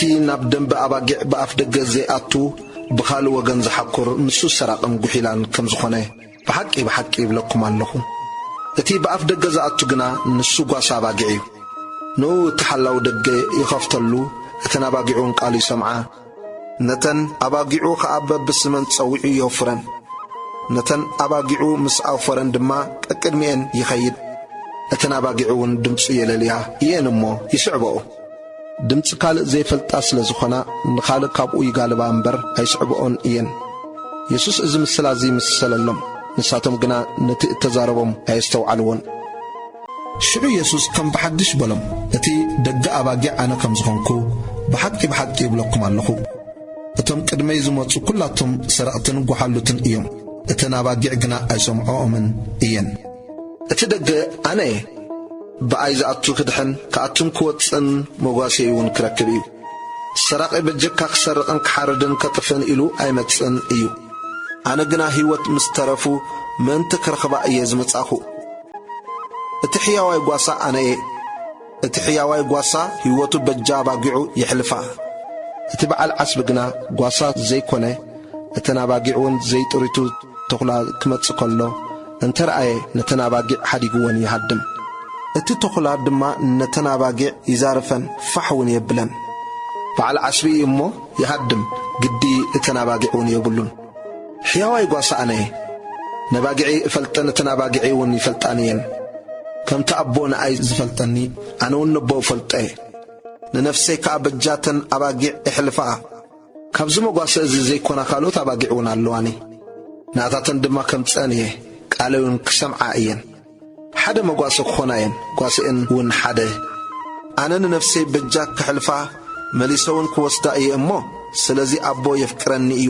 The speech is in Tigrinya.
እቲ ናብ ደምበ ኣባጊዕ ብኣፍደገ ዘይኣቱ ብኻልእ ወገን ዝሓኩር ንሱ ሰራቕን ጉሒላን ከም ዝኾነ ብሓቂ ብሓቂ ይብለኩም ኣለኹ። እቲ ብኣፍደገ ዝኣቱ ግና ንሱ ጓሳ ኣባጊዕ እዩ። ንኡ እቲ ሓላዊ ደገ ይኸፍተሉ እተን ኣባጊዕውን ቃሉ ይሰምዓ። ነተን ኣባጊዑ ኸኣ በብስመን ጸዊዑ የውፍረን። ነተን ኣባጊዑ ምስ ኣውፈረን ድማ ቀቅድሚኤን ይኸይድ። እተን ኣባጊዕውን ድምጹ የለልያ እየን እሞ ይስዕባኦ። ድምጺ ካልእ ዘይፈልጣ ስለ ዝኾና ንኻልእ ካብኡ ይጋልባ እምበር ኣይስዕብኦን እየን። የሱስ እዚ ምስላ እዚ ምስሰለሎም፣ ንሳቶም ግና ነቲ እተዛረቦም ኣየስተውዓልዎን። ሽዑ የሱስ ከም ብሓድሽ በሎም፣ እቲ ደገ ኣባጊዕ ኣነ ከም ዝኾንኩ፣ ብሓቂ ብሓቂ እብለኩም ኣሎኹ፣ እቶም ቅድመይ ዝመጹ ኵላቶም ሰረቕትን ጐሓሉትን እዮም፣ እተን ኣባጊዕ ግና ኣይሰምዕኦምን እየን። እቲ ደገ ኣነ እየ፣ ብኣይ ዝኣቱ ክድሕን ክኣቱን ክወጽእን መጓሴይውን ክረክብ እዩ። ሰራቒ በጀካ ክሰርቕን ክሓርድን ከጥፍእን ኢሉ ኣይመጽእን እዩ። ኣነ ግና ህይወት ምስ ተረፉ ምእንቲ ክረኽባ እየ ዝመጻእኩ። እቲ ሕያዋይ ጓሳ ኣነ እየ። እቲ ሕያዋይ ጓሳ ህይወቱ በጃ ኣባጊዑ የሕልፋ። እቲ በዓል ዓስቢ ግና ጓሳ ዘይኰነ፣ እተን ኣባጊዕውን ዘይጥሪቱ ተዅላ ኪመጽእ ከሎ እንተ ረኣየ፣ ነተን ኣባጊዕ ሓዲጉወን ይሃድም። እቲ ተዅላ ድማ ነተን ኣባጊዕ ይዛርፈን ፋሕውን የብለን። በዓል ዓስቢ እዩ እሞ፣ ይሃድም፣ ግዲ እተን ኣባጊዕውን የብሉን። ሕያዋይ ጓሳ ኣነ እየ፣ ነባጊዐይ እፈልጠን እተን ኣባጊዐይውን ይፈልጣኒ እየን። ከምቲ ኣቦ ንኣይ ዝፈልጠኒ ኣነውን ነቦ እፈልጦ እየ፣ ንነፍሰይ ከኣ በጃተን ኣባጊዕ እሕልፋ። ካብዚ መጓሰ እዚ ዘይኰና ካልኦት ኣባጊዕውን ኣለዋኒ፣ ንኣታተን ድማ ከምጽአን እየ፣ ቃለይውን ክሰምዓ እየን። ሓደ መጓሰ ክዀና እየን፣ ጓሰኤንውን ሓደ። ኣነ ንነፍሰይ በጃ ከሕልፋ መሊሰውን ክወስዳ እየ እሞ፣ ስለዚ ኣቦ የፍቅረኒ እዩ።